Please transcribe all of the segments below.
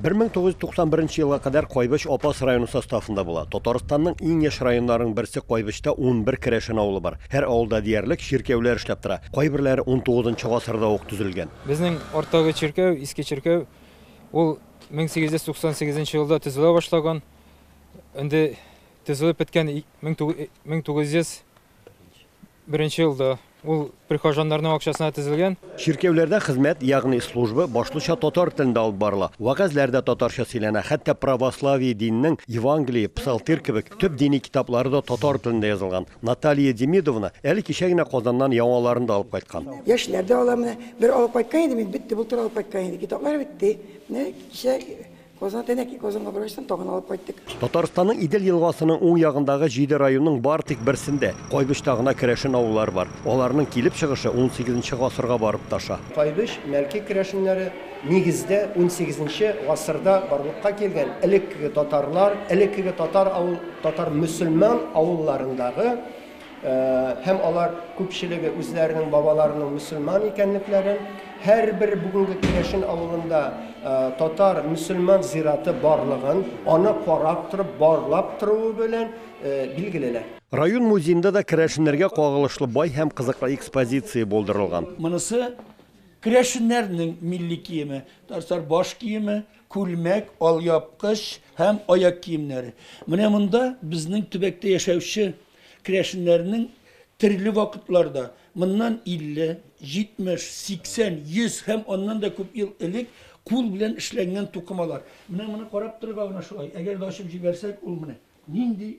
1991 елга кадәр Кайбыч Апас районы составында була. Татарстанның иң яшь районнарының берсе Кайбычта унбер керәшен авылы бар. Һәр авылда диярлек чиркәүләр эшләп тора. Кайберләре унтугызынчы гасырда ук төзелгән. Безнең арттагы чиркәү, иске чиркәү, ул 1898 нче елда төзелә башлаган. Инде төзелеп беткән 1900 Беренче елда ул прихожаннарның акчасына төзелгән. Чиркәүләрдә хезмәт, ягъни служба башлыча татар телендә алып барыла. Вәгазьләр дә татарча сөйләнә, хәтта православие диненең Евангелие, Псалтирь кебек төп дини китаплары да татар телендә язылган. Наталья Демидовна әле кичә генә Казаннан яңаларын да алып кайткан. Яшьләр дә алар менә. Бер алып кайткан идем мин, бетте, былтыр алып кайткан идем. Китаплар бетте. Менә кичә Казан тәнәки Казанга врачтан тагын алып кайттык. Татарстанның Идел елгасының уң ягындагы җиде районның бары тик берсендә, Кайбычта гына керәшен авыллары бар. Аларның килеп чыгышы унсигезенче гасырга барып тоташа. Кайбыч, Мәлки керәшеннәре, нигездә, унсигезенче гасырда барлыкка килгән. Элеккеге татарлар, элеккеге татар авыл, татар мөселман авылларындагы, һәм алар күпчелеге үзләренең бабаларының мөселман икәнлекләрен, һәрбер бүгенге Керәшен авылында татар мөселман зираты барлыгын, аны карап торып, барлап торуы белән билгелиләр. Район музеенда да керәшеннәргә кагылышлы бай һәм кызыклы экспозиция булдырылган. Монысы керәшеннәрнең милли киеме, татар баш киеме, күлмәк, алъяпкыч һәм аяк киемнәре. Менә монда безнең төбәктә яшәүче керәшеннәрнең төрле вакытларда, моннан 50, 70, 80, 100 һәм аннан да күп ел элек кул белән эшләнгән тукымалар. Менә моны карап торырга гына шулай. Әгәр дә ачып җибәрсәк, ул менә нинди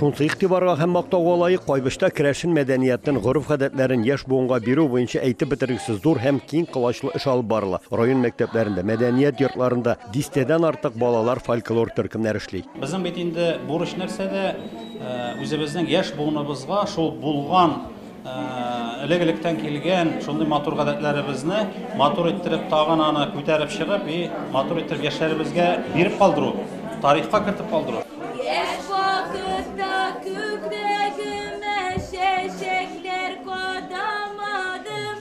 Шунсы игътибарга һәм мактауга лаек Кайбычта керәшен мәдәниятен, гореф-гадәтләрен яшь буынга бирү буенча әйтеп бетергесез зур һәм киң колачлы эш алып барыла. Район мәктәпләрендә, мәдәният йортларында дистәдән артык балалар фольклор төркемнәре эшли. Безнең бит инде бурыч нәрсәдә, үзебезнең яшь буыныбызга шул булган Элек-электән килгән шундый матур гадәтләребезне матур иттереп, тагын аны күтәреп чыгып и матур иттереп яшьләребезгә биреп калдыру, тарихка кертеп калдыру. Яшь вакытта күкрәгемә чәчәкләр кадамадым,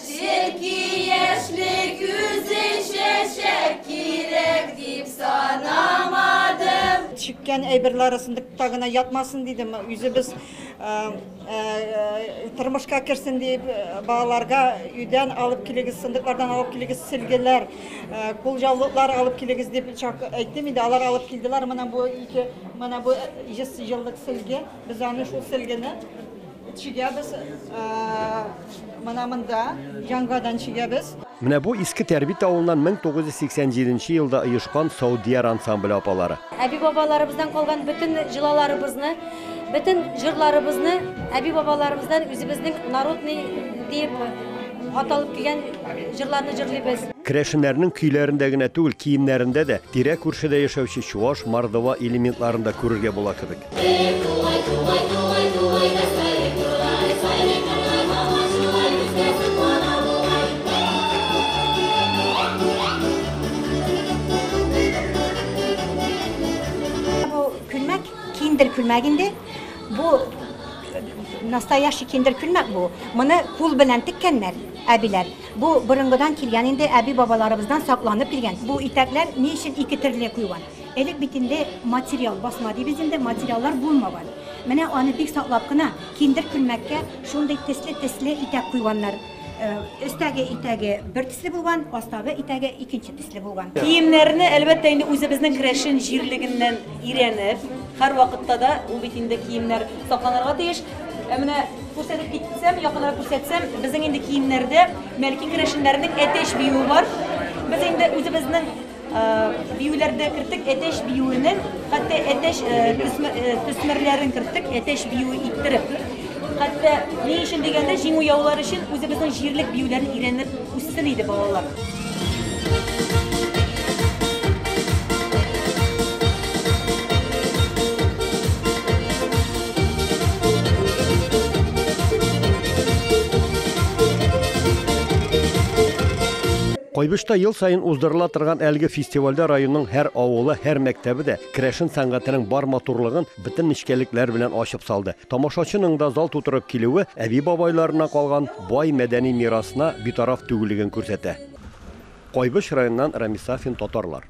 Чөнки яшьлек үзе чәчәк кирәк дип санамадым. Чиккән әйберләре сындыкта гына ятмасын дидем. Үзебез тормышка керсен дип, балаларга өйдән алып килегез, сындыклардан алып килегез, сөлгеләр, кулҗаулыклар алып килегез дип әйттем инде. Алар алып килделәр. Менә бу ике, менә бу 100 еллык сөлге. Без аны шул сөлгене Чигәбез менә монда, яңадан чигәбез. Менә бу Иске Тәрбит авылыннан 1987 нче елда оешкан Саудияр ансамбле апалары. Әби-бабаларыбыздан калган бөтен җолаларыбызны, бөтен җырларыбызны әби-бабаларыбыздан үзебезнең народный диеп аталып килгән җырларны җырлыйбыз. Керәшеннәрнең көйләрендә генә түгел, киемнәрендә дә, тирә-күршедә яшәүче чуаш, мордва элементларын да күрергә була кебек. Бу күлмәк киндер күлмәк инде. Бу настоящий киндер күлмәк бу. Моны кул белән теккәннәр әбиләр. Бу борынгыдан килгән инде, әби-бабаларыбыздан сакланып килгән. Бу итәкләр ни өчен ике төрле куйган? Элек бит инде материал, басма дибез инде, материаллар булмаган. Менә аны бик саклап кына киндер күлмәккә шундый тесле-тесле итәк куйганнар. Э, өстәге итәге бер төсле булган, астагы итәге икенче төсле булган. Киемнәрне, әлбәттә, инде үзебезнең керәшен җирлегеннән өйрәнеп, һәрвакытта да бу бит инде киемнәр сакланырга тиеш. Ә менә күрсәтеп китсәм, якынрак күрсәтсәм, безнең инде киемнәрдә Мәлки керәшеннәренең әтәч биюе бар. Без инде үзебезнең Биюләрдә керттек әтәч биюенең, хәтта әтәч төсмерләрен керттек әтәч биюе иттереп. Хәтта ни өчен дигәндә, җиңү яулар өчен үзебезнең җирлек биюләрен өйрәнеп үссен иде балалар. Кайбычта ел саен уздырыла торган әлеге фестивальдә районның һәр авылы, һәр мәктәбе дә керәшен сәнгатенең бар матурлыгын бөтен нечкәлекләр белән ачып салды. Тамашачының да зал тутырып килүе әби-бабайларыннан калган бай мәдәни мирасына битараф түгеллеген күрсәтә. Кайбыч районыннан Рамис Сафин, Татарлар.